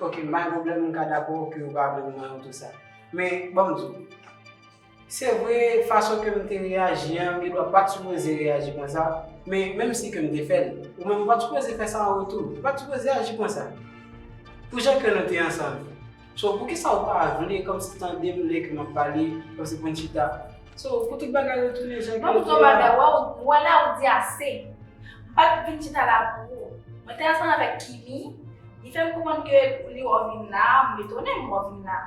Ok, m bay pwoblèm m ka dakò ke yo pa vle m nan oto sa. Men, ban m di w. Se vre, fason ke m te reyaji an, gen dwa pa t sipoze reyaji konsa, men menm si ke m te fè l, ou menm ou pa t sipoze fè sa an retou. Ou pa t sipoze aji konsa. Pou jan ke nou te ansanm. So poukisa ou pa vle komsi tandem lè ke map pale komsi poun chita so pou tout bagay retounen jan ke li te a. Waww ou wè la ou di ase. M pat vin chita la pou ou. Mwen te ansanm avèk Kimi, li fèm konprann ke pou li wè w vin la, m etone m wè w vin la.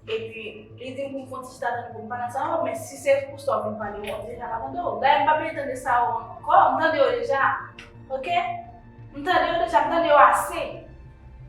Epi li dim pou m fon ti chita tann pou m pale ansanm avèw men si se pou sa w vin pale wap deja pa tande w. Dayè m pa bezwen tande sa yo ankò, m tande yo deja ok. M tande yo deja, m tande yo ase.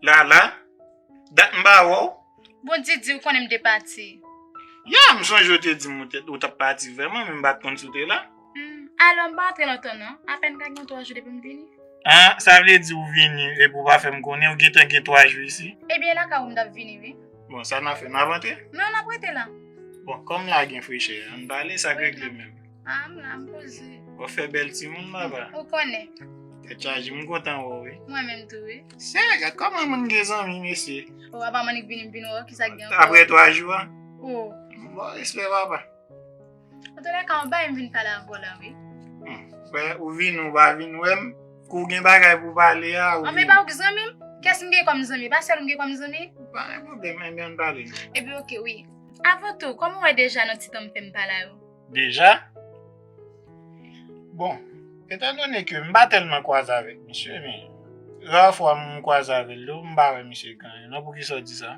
Lala, dat m pa wè w. Bon Didi, ou konnen m te pati. Ya, m sonje w te di m ou t ap pati vrèman men m pa t konn si w te la. Alò, m pa antre lontan non. Apèn ka gen twa jou depi m vini. A, sa vle di ou vini epi ou pa fè m konnen ou gentan gen twa jou isi? Ebyen, e lakay ou m t ap vini wi. Bon, sa n ap fè? N ap antre? Non, n ap rete la. Bon, kòm la gen frechè, an n pale sa k regle menm. A m la, m poze. Ou fè bèl timoun baba. Ou konnen. Tèt chaje, m kontan wè w wi. Mwen menm tou wi. Sè, gad kòman moun gen zanmi mesye. O apa m annik vini m vin wè w kisa k gen ankò. Aprè 3 jou an. O. Bon respè baba. An tou lè ka m bay m vin pale avè w la wi. Fè ou vini ou pa vin wè m. Kou w gen bagay pou w pale a ou vini. An m e pa ou ki zanmi m? Kès m gen kòm zanmi? E pa sèl ou m gen kòm zanmi? Pa gen pwoblèm, enben an n pale. Enben ok wi. Avan tou, kòman w wè deja nan ti tan m fè m pa la yo? deja. Bon, etan donnen ke m pa tèlman kwaze avèk misye, men, ra fwa m kwaze avèl yo, m pa wè misye ganyen non, pou kisa w di sa?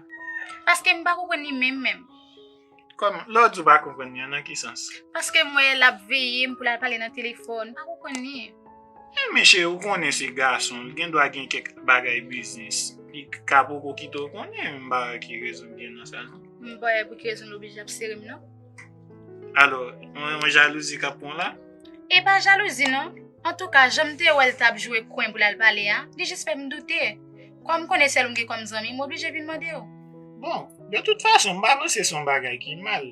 Paske m pa konprann li menm menm. Kòman? Lè w di w pa konprann li an, nan ki sans? Paske m wè l ap veye m pou l al pale nan telefòn, m pa konprann li. Men men cheri, w konnen se gason, l gen dwa gen kèk bagay biznis, li ka poko kite w konnen, m pa wè ki rezon gen nan sa non. M pa wè pou ki rezon l oblije ap sere m non. Alo, mwen jalouzi kap pran la? E pa jalouzi non, antouka janm te wèl tap jwe kwen pou lal pale a, li jis fèm doute. Kòm m konnen sèl ou m gen kòm zanmi, m oblije vin mandew. Bon, de tout fason m pa panse son bagay ki mal.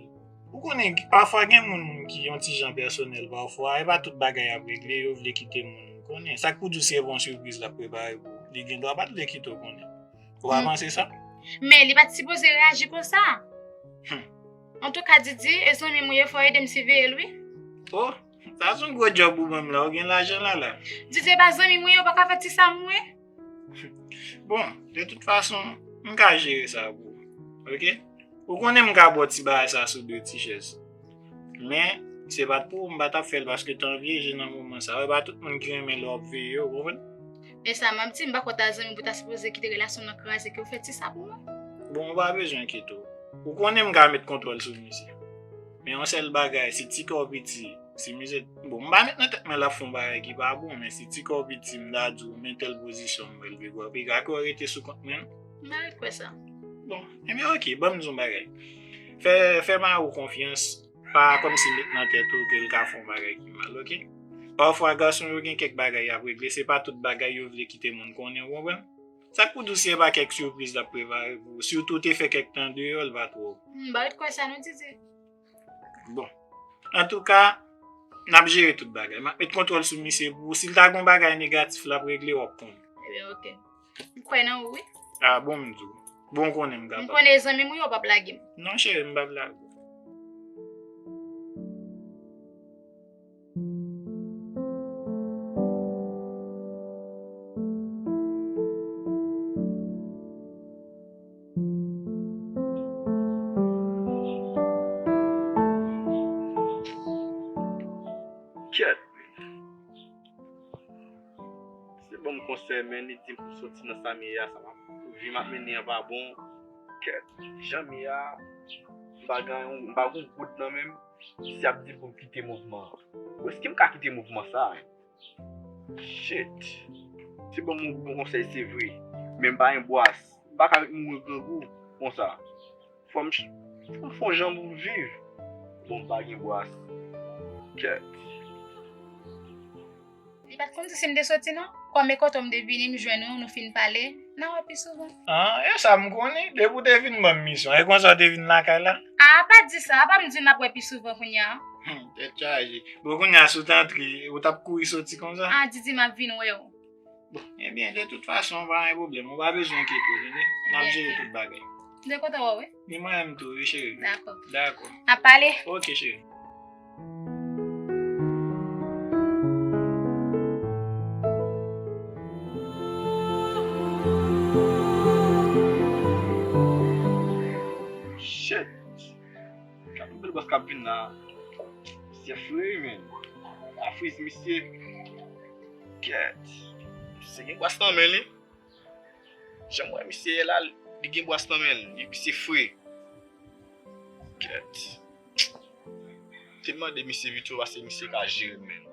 Ou konnen pafwa gen moun ki yon ti jan pèsonèl pafwa, e pa tout bagay yap regle yo vle kite moun konnen. Sak pou diw se yon sipriz lap prepare pou ou, li gendwa pat vle kite ou konnen. Ou pa panse sa? Men li pat sipoze reyaji konsa. Humm. Antouka Didi e zanmim ou ye fò edem siveyel wi. Oh sa son gwo job ou banm la ou gen lajan lala. Didi e pa zanmim ou ye ou paka fè ti sam ou wi. Bon de tout fason m ka jere sa pou ou ok ou konnen m ka baw ti bagay sa sou de ti chèz men se pat pou ou m patap fèl paske tan vyeje nan moman sa e pa tout moun ki renmen lè wap veye yo ou konprann. Men sa map di, m pa kwè w ta zanmi pou ta sipoze kite relasyon nan kraze ke w fè ti sa pou mwen. Bon ou pa bezwen enkete w. Ou konnen m ka met kontwòl sou mize. Men yon sèl bagay, si ti kè w piti, si mize, bon m pa met nan tèt mwen lap fè yon bagay ki pa bon, men si ti kè w piti m ta di w men tèl pozisyon m wè l pi gwo, pi ga ke w rete sou kont mwen. M pa ret kwè sa. Bon, enben ok, banm di w yon bagay. Fè, fè Marou konfyans. Pa kòmsi met nan tèt ou ke l ka fè yon bagay ki mal, oke. Pafwa gason yo gen kèk bagay y ap regle, se pa tout bagay yo vle kite moun konnen, ou konprann. Sa k pou di w si e pa kèk sipriz l ap prepare pou ou, sitou w te fè kèk tan deyò, l va twò. M ba ou t kwè sa non Didi. Bon. Antouka, n ap jere tout bagay. M ap met kontwòl sou misye pou ou. Si l ta gen yon bagay negatif l ap regle, w ap konnen. Ebyen oke. M kwè nan ou wi. A bon m di w. Bon konnen m kapab. M konnen zanmi m ou yo pap lage m. Non cheri m pap lage w. Li te banm konsèy men li dim pou soti nan sa m ye a sa pa vi map mennen an pa bon kè janm ye a m pa gen yon m pa gen yon goud nan menm si ap di poum kite mouvman an bon eskem ka kite mouvman sa shit li te banm yon bon konsèy se vre men m pa yon bwas m paka ret mouri grangou konsa. Fòm fòm fon jan pou m viv. Bon m pa gen bwa kèt. Li pa t konn si m te soti non. Kòm e kote w m te vini m jwenn ou nou fin pale, n a wè pi souvan. An, e sa m konnen, depi w te vin ban m misyon, e konsa w te vin lakay la? A, pa di sa, pa m di w n ap wè pi souvan kounye a. Hum, tèt chaje. Bon kounye a si w t antre, ou t ap kouri soti konsa? A, Didi m ap vin wè w. Ebyen, de tout fason, pa gen pwoblèm. Ou pa bezwen enkyete ou, tande. N ap jere tout bagay. M te kontan wè w wi. Ni mwen menm tou, wi cheri. Dakò. Dakò. N ap pale. Ok, cheri. Gad yon bèl bòs kap vin la. Misye free menn. La friz misye. Kèt. Misye gen bòs nan men li. Janm wè misye ye la li gen bòs nan men li. Misye free. Kèt. Te mande misye Vito ase misye ka jere menn.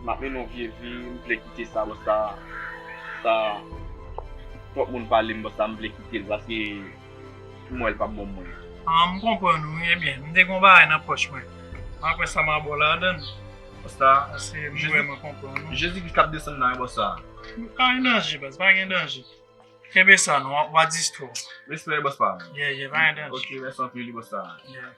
M ap mennen yon vye vi, m vle kite sa bò sa, sa twòp moun pale m bò sa m vle kite l paske pou mwen l pa bon pou mwen. Ah m konprann ou wi ebyen m te gen yon bagay nan pòch mwen m ap wè sa ma ba w ladann bò sa paske m vrèman konprann ou. Jezi Kris k ap desann nan e bò sa. Pa gen danje baz pa gen danje kenbe sa nan w a distwè w. Respè bòs pam. Yeah yeah pa gen danje. Ok mèsi anpil wi bòs sa. Yeah.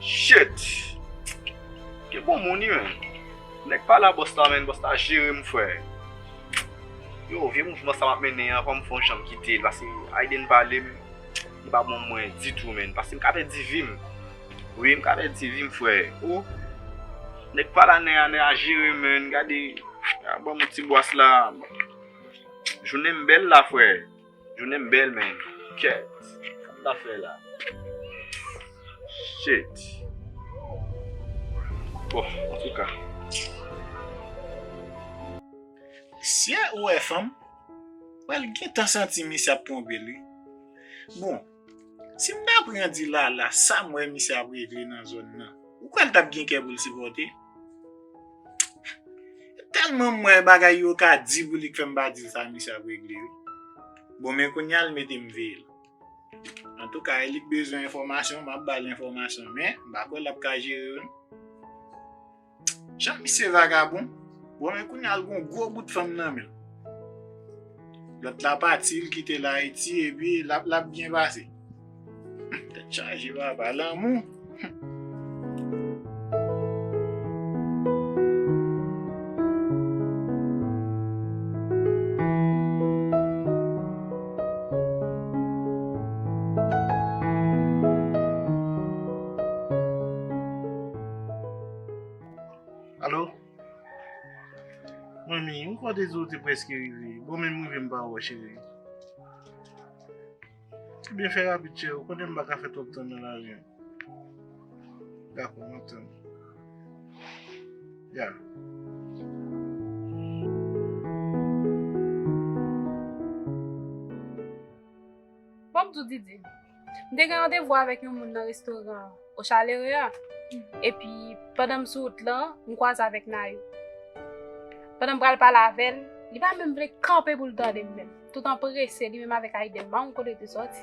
Shit! Gen bon moun ui menn. Nèg pale a bòs la menn, bòs la jere m frè. Yow vye mouvman sa map mennen an fòm fon janm kitel pase Ayden pale m li pa bon pou mwen ditou menn pase m ka pèdi vim wi m ka pèdi vim frè oh nèg pale a nèa nèa jere m menn gade banm yon ti bwas la jounen m bèl la frè. Jounenm bèl men kèt sa m ta fè la Shit Bon antouka. Siye ou wè fanm, wè l gentan santi misye ap twonpe l wi. Bon. Si m ta pran di Lala sa m wè misye ap regle nan zòn nan, ou kwè l t ap gen kè pou l sipòte? E tèlman m wè bagay yo ka di pou li k fè m pa di l sa misye ap regle wi. Bon men kounya l mete m veye l. Antouka e li k bezwen enfòmasyon m ap ba l enfòmasyon men m pa kwè l ap ka jere yo non. Jan misye vagabon. Bon men kounya l gon gwo bout fanm nan men l. Lòt la pati l kite l Ayiti epi l ap l ap byen pase. Tèt chaje papa, lanmou. Alo? Mwen mi, mwen kwa te zo te preske rive. Bon men mwen ve mba wè cheve. Ti ben fè rapit chè, ou konen mba ka fè twop tan nan la riyan. Dako, mwen tan. Ya. Bon mdou didi. M te gen randevou avèk yon moun nan restoran O Chalere a, epi pandan m sou wout lan, m kwaze avèk Nayou. Pandan m pral pale avè l, li pa menm vle kanpe pou l tande m menm, tout anprese li menm avèk Ayden, pa konn kote yo te sòti.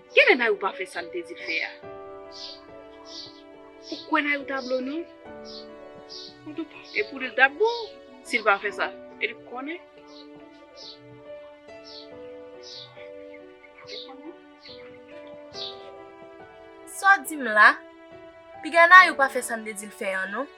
Genlè Nayou pa fè sal te dil fè a. Ou kwè Nayou ta blo non. Antouka e pou li li tap bon sil pa fè sa e li konnen. Saw dim la? Piga Nayou pa fè sam te dil fè an non.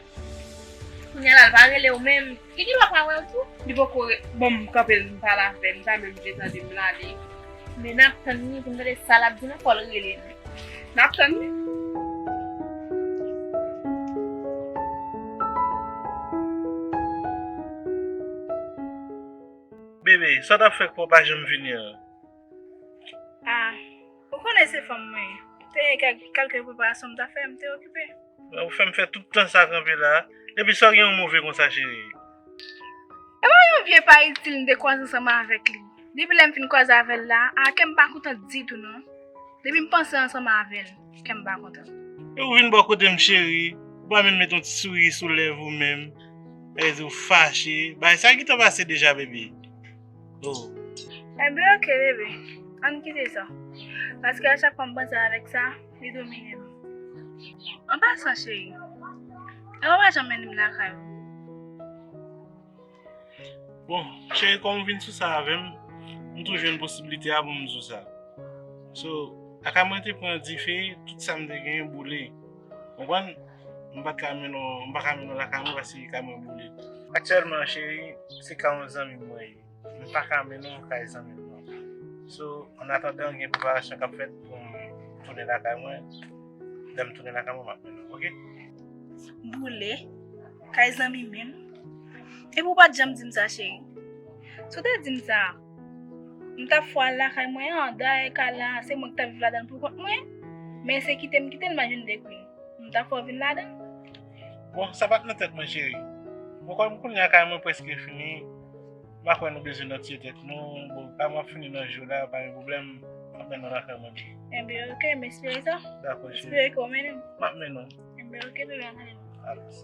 Kounya la l pa rele w menm. Li gen dwa pa wè w tou. Li poko re, bon m kanpe l m pale avè l m pa menm vle tande m lale. Men n ap tann li pou n tande sa l ap di nou fò l rele nou. N ap tann li. Bebe, sa w t ap fè k pa w pa janm vini an? A. Ou konnen se fanm mwen ye. Te gen kèlke preparasyon m ta fè, m te okipe. Ou fè m fè tout tan sa kanpe la a. Epi sa w gen yon move konsa cheri? E pa yon vye pa itil m te kwaze ansanm avèk li. Depi lè m fin kwaze avè l la a, kè m pa kontan ditou non. Depi m panse ansanm avè l, kè m pa kontan. E ou vin bò kote m cheri, ou pa menm met yon ti souri sou lèv ou menm. Sa vle di ou fache. Bagay sa ki te pase deja baby? E byen ok bebe, an n kite sa. Paske a chak fwa m panse avèk sa, li domine m. An pasan cheri, e ou pa janm mennen m lakay ou? Bon, cheri kòm ou vin sou sa avè m, m tou jwenn posiblite a pou m di w sa. So, lakay mwen te pran dife, tout sa m te genyen boule. Konprann? M pa t ka mennen w, m pa ka mennen w lakay mwen paske kay mwen boule. Aktyèlman cheri, se kay yon zanmi m mwen ye. M pa ka mennen w kay zanmi m nan. So, an atandan gen preparasyon k ap fèt pou m tounen lakay mwen, lè m tounen lakay mwen m ap mennen w, oke? Boule? Kay zanmi menm? Epi w pa t janm di m sa cheri. Si w te di m sa. M tap fwa al lakay mwen an, dayè kay la se mwen ki tap viv ladan l pou kont mwen, men se kite m kite l m pa jwenn de grenn. M ta fè w vin ladan l? Bon, sa pa t nan tèt mwen cheri. Bon kòm kounye a kay mwen prèske fini, m pa kwè nou bezwen nan tiye tèt nou, bon kay mwen ap fini nan jou la, pa gen pwoblèm, m ap mennen w lakay mwen bebe. Enben ok, m espere sa. Dakò cheri. M espere ke w mennen m. M ap mennen w. Enben ok bebe, an ale nou. Alex.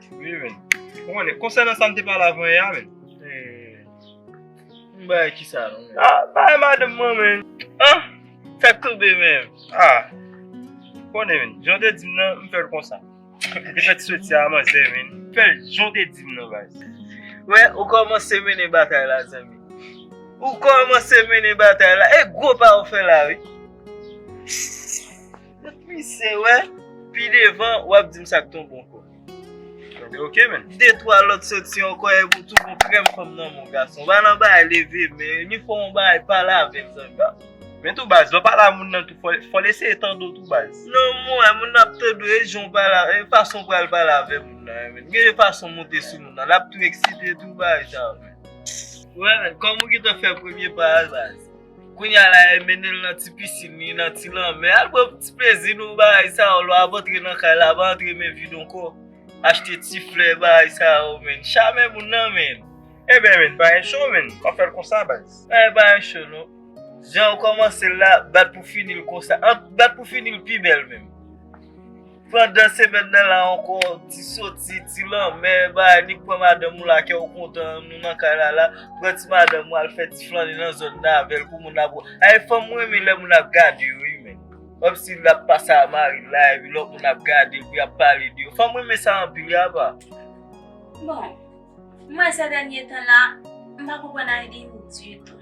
Wi men. Mwen le konsè nan sam te pale avan e a men. Mwen ba e ki sa nan men. A, ba e ma dem mwen men. A, sa k toube men. A, mwen le men. Jan te dim nan, mwen fèl konsa. Mwen te fèt soti a man zè men. Mwen fèl jan te dim nan bay. Wè, ou kòman se men e batay la zè men. Ou kòman se men e batay la. E gwo pa ou fè la wi. Mwen pise wè, pi devan wap dim sak ton bon kò. Tande ok men. De twa lòt soti ankò e pou tou pou krèm fanm nan mon gason. Ba nan bay leve men yo, ni fò on bay pale avèl zan gason. Men tou baz, lò pale a moun nan tou fòl eseye tande w tou baz. Non mwen wè moun nan ap tande w e jan w pale a, e fason pral pale avè moun nan an men. Gen yon fason monte sou moun nan, lap tou eksite tou bay jan men. Wè men, kòm ou gentan fè premye pa a baz. Kounya la e mennenl nan ti piscine li nan ti lanmè al pran ti plezi nou bagay sa yo lwa ap antre nan kay la pa antre men vid ankò achte ti flè bagay sa yo menn chame moun nan menn. Eben menn pa gen cho menn wap fèl konsa baz. Bagay pa gen cho non janw kòmansel la bat pou finil konsa bat pou finil pi bèl menm. Pandan semèn nan la ankò, ti soti, ti lanmè, bagay nik pran madanm ou la kè ou kontan, nou nan kay la la, pran ti madanm ou al fè ti flannen nan zòn nan avèl pou moun ap wè. Ay fanm renmen lè moun ap gade yo wi menn. Kòm si lap pase a mari l la epi lòt moun ap gade l pou yap pale de yo. Fanm renmen sa anpil wi apa. Bon, mwen sè dènye tan la, m pa konprann Aydin ditou.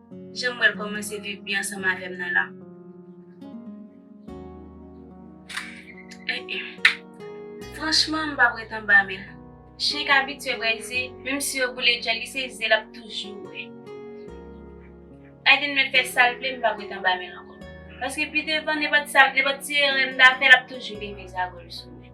Janm wèl kòmanse viv byen ansanm avèm nan la eeh franchman m pap ret anba menl chyen k abitye bwè ze menm si yo boule djòl li se ze lap toujou bwè Aiden mèt fè sal vle m pap ret anba menl ankò paske pi devan nenpòt sa nenpòt ti erè m ta fè lap toujou leve zagòl sou mwen.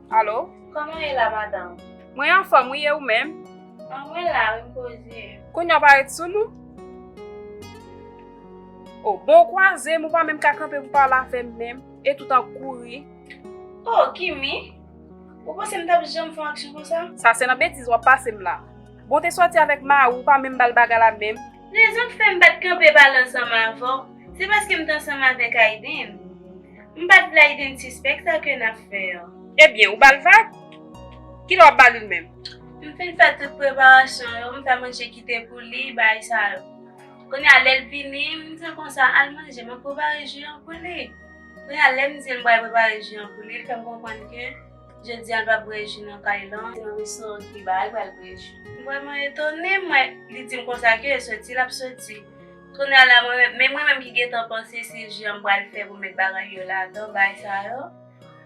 Alo? Kòman w ye la madanm? Mwen anfòm wi e ou menm? An mwen la wi m koze. Kounya w parèt sou nou? O bon ou kwaze m ou pa menm ka kanpe pou pale avè m menm e tout an kouri. O Kimi! Ou panse m t ap janm fè yon aksyon konsa? Sa se nan betiz w ap pase m la. Bon w te sòti avèk mari w ou pa menm ba l bagay la menm. Rezon k fè m pa t kanpe pale ansanm avè w se paske m t ansanm avèk Ayden. M pat vle Aiden sispèk sa ke nap fè an. Ebyen ou bal vag? Kilè wap bal li menm? M fin fè tout preparasyon yo, m fè manje kite pou li, bagay sa yo. Kounye a lèl vini, m dil konsa al manje map prepare ji an pou li. Kounye a lèm dil m pral prepare ji an pou li, li fèm konprann ke jodi an l pap bwè ji nan kay lan, se nan restoran Kiba li pral bwè ji. M vreman etone, m wè li dim konsa ke soti lap soti. Kounye a la mwen menm, men mwen menm ki gentan panse se jan m pral fè pou m met bagay yo ladan bagay sa yo,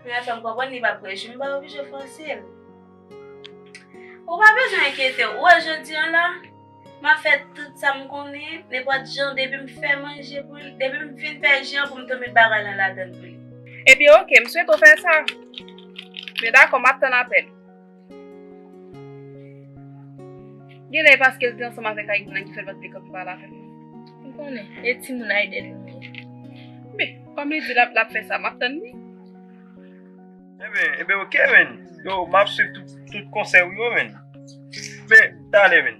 kounye a l fè m konprann li pa p gresi, m pa oblije fòse l. Ou pa bezwen enkyete w, ou wè jodi an la, m ap fè tout sa m konnen, nenpòt jan depi m fè manje pou li, depi m fin fè je an pou m tou met bagay lan ladan l pou li. Ebyen ok, m swete w fè sa. Yo dakò, m ap tann apèl ou. Genlè e paske l te ansanm avèk Aiden an ki fè l pa t vle kanpe pale avè m nan. M konnen. E timoun Aiden yo menm? Men, kòm li di l ap fè sa, m ap tann li. Enben, enben ok menn. Yo, m ap suiv tout konsèy ou yo menn. Men, talè menn.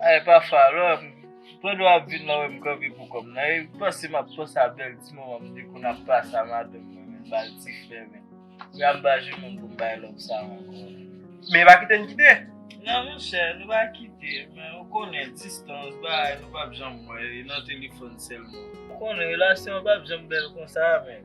Ay pa fara pandan wap vin la wèm kanpe pou kòm nan e panse map panse a bèl ti moman m te konn ap pase a madanm mwen menm bal ti flè menm jan m ba jeune homme pou m bay love sa ankò. Men pa kite n kite. Nan monchè nou pa kite men ou konnen distans bagay nou pap janm wè e nan telefòn sèlman. Ou konnen relasyon an pap janm bèl konsa menm.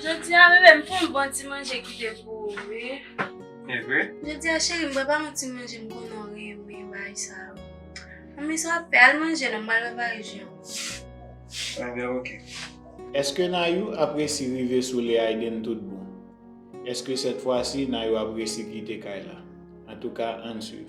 Jodi a bebe m pou yon bon ti manje kite pou ou wi. Evre? Jodi a cheri m prepare yon ti manje m konnen w renmen bagay sa yo. Anmweyy sa w ap fè al manje non m pral prepare je an. Enben ok. Eske Nayou ap resi rive sou le Aiden tout bon? Eske sèt fwa si Nayou ap resi kite kay la? Antouka ann swiv.